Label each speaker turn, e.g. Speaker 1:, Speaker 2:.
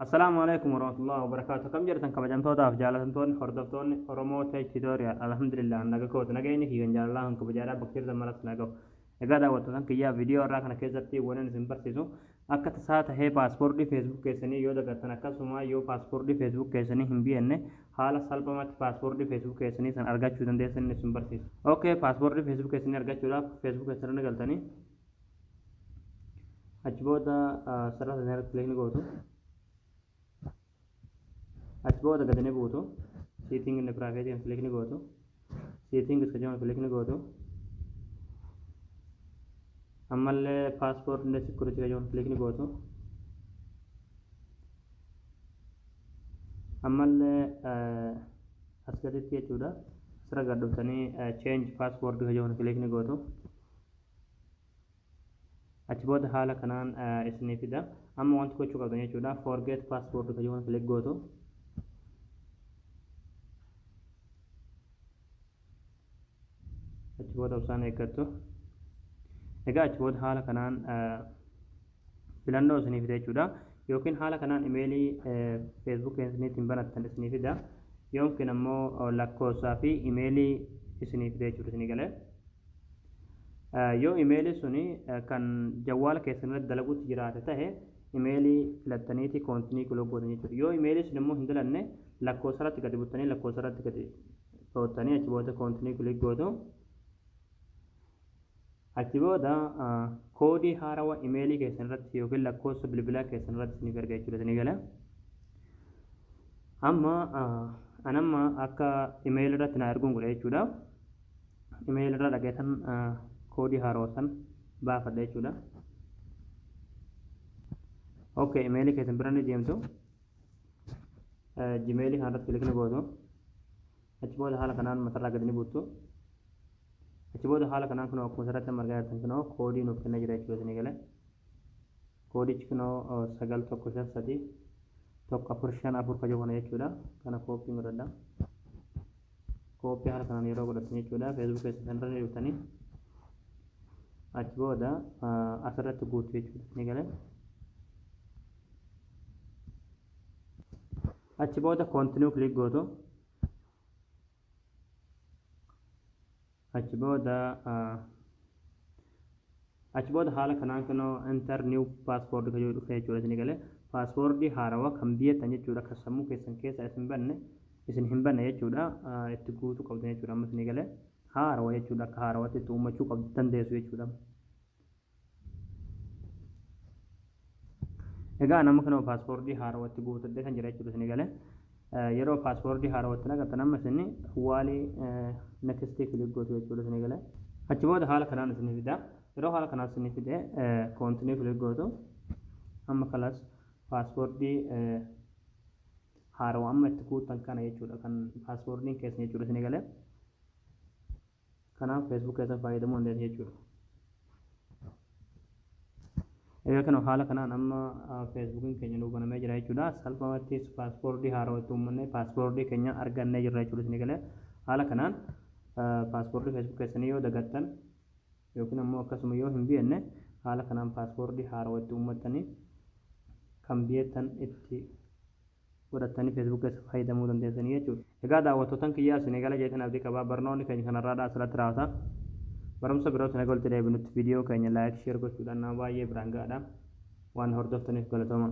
Speaker 1: Assalaamu alaikum warahmatullahi wabarakaatu kam jirtan kabajamtootaaf jaalatamtoonni hordoftoonni Oromoo Tech Tutorial alhamdulillah naga kooti nageenyi kiyya jaalalaa kan kabajaadhaa bakka jirtan maras nagahu egaa daawwattootan kiyyaa viidiyoo irraa kana keessatti wanan isin barsiisu akka tasaa tahee paaspoortii feesbuuk keessanii yoo dagattan akkasuma yoo paaspoortii feesbuuk keessanii hin biyanne haala salphamatti paaspoortii feesbuuk keessanii san argachuu dandeessan isin barsiisu ok paaspoortii feesbuuk keessanii argachuudhaaf feesbuuk keessanii galtanii achi booda sarara sana irratti kilikni gootu achi booda gadi ni buutu seeting inni private kan kilikni gootu seeting iska jiran kilikni gootu ammallee paaspoort inni security kan jiran kilikni gootu ammallee as gaditti jechuudha asirra gad dhuftanii change passport kan jiran kilikni gootu achi booda haala kanaan isinii fida amma wanti gochuu qabdan jechuudha forget password kan jiru click gootu achi booda obsaan eeggattu egaa achi booda haala kanaan filannoo isinii fida jechuudha yookiin haala kanaan imeelii feesbuuk isiniitiin banattan isinii fida yookiin ammoo lakkoofsaa fi imeelii isinii fida jechuudha isinii galee Yoo imeelii suni kan jawwaala keessan irratti dalaguutti jiraate tahe imeelii filattaniiti koontinii kiloo gootan jechuudha. Yoo imeelii sun immoo hin dalanne lakkoofsa irratti gadi buttanii lakkoofsa irratti gadi dhoottanii achi booda koontinii kilik gootu. Achi booda koodii haarawa imeelii keessan irratti yookiin lakkoofsa bilbilaa keessan irratti isiniif erga jechuudha isinii gala. Amma anamma akka imeelii irratti naa erguun godha jechuudha. email irraa dhagaytan koodii haarawa san baafadha jechuudha ok email keessan bira ni deemtu gmail kan irratti kilikni gootu achi booda haala kanaan matarraa gadi ni buuttu achi booda haala kanaan kunoo akkuma asirratti amma argaa jirtan kunoo koodii nuuf kennaa jira jechuudha isinii galee koodichi kunoo sagal tokko shan sadii tokko afur shan afur kajoo kana jechuudha kana kooppiin godhadha copy haala kanaan yeroo godhattan jechuudha facebook keessan irra ni dhuftanii achi booda asirratti guutu jechuudha ni galee achi booda continue click gootu Achi booda Achi booda haala kanaan kunoo enter new password kan jedhu dhufee jechuudha isin galee password haarawa kan biyyattan jechuudha kan sammuu keessan keessa isin banne isin hin banne jechuudha itti guutuu qabdan jechuudha amma isin galee haarawa jechuudha akka haarawatti itti uummachuu qabdu dandeessu jechuudha. Egaa nama kana paaspoortii haarawatti guutadhe kan jira jechuudha isin galee. Yeroo paaspoortii haarawatti naqatan amma isin waalii nekistii kilik gootu jechuudha isin galee. Achi booda haala kanaan isin fida. Yeroo haala kanaan isin fide koontinii kilik gootu. Amma kalas paaspoortii haarawa amma itti guutan kana jechuudha kan paaspoortiin keessan jechuudha isin galee. Kanaaf Facebook keessan fayyadamuu hin dandeessu jechuudha. Egaa kana haala kanaan amma Facebookiin keenya nuu banamee jira jechuudha. Salphumatti paaspoortii haarawaa itti uummanne paaspoortii keenya argannee jirra jechuudha isin galee. Haala kanaan paaspoortii Facebook keessanii yoo dagattan yookiin ammoo akkasuma yoo hin beekne haala kanaan paaspoortii haarawaa itti uummattanii kan beektan itti godhattani Facebook keessa fayyadamuu dandeessanii jechuudha. Egaa daawwattootan kiyyaa isinii gala jedheen abdii qaba. Barnoonni keenya kan har'aadhaa asirratti raawata. Barumsa birootiin haga walitti deebinutti viidiyoo keenya like, share gochuudhaan nama baay'ee biraan ga'adha. Waan hordoftaniif galatoomaa.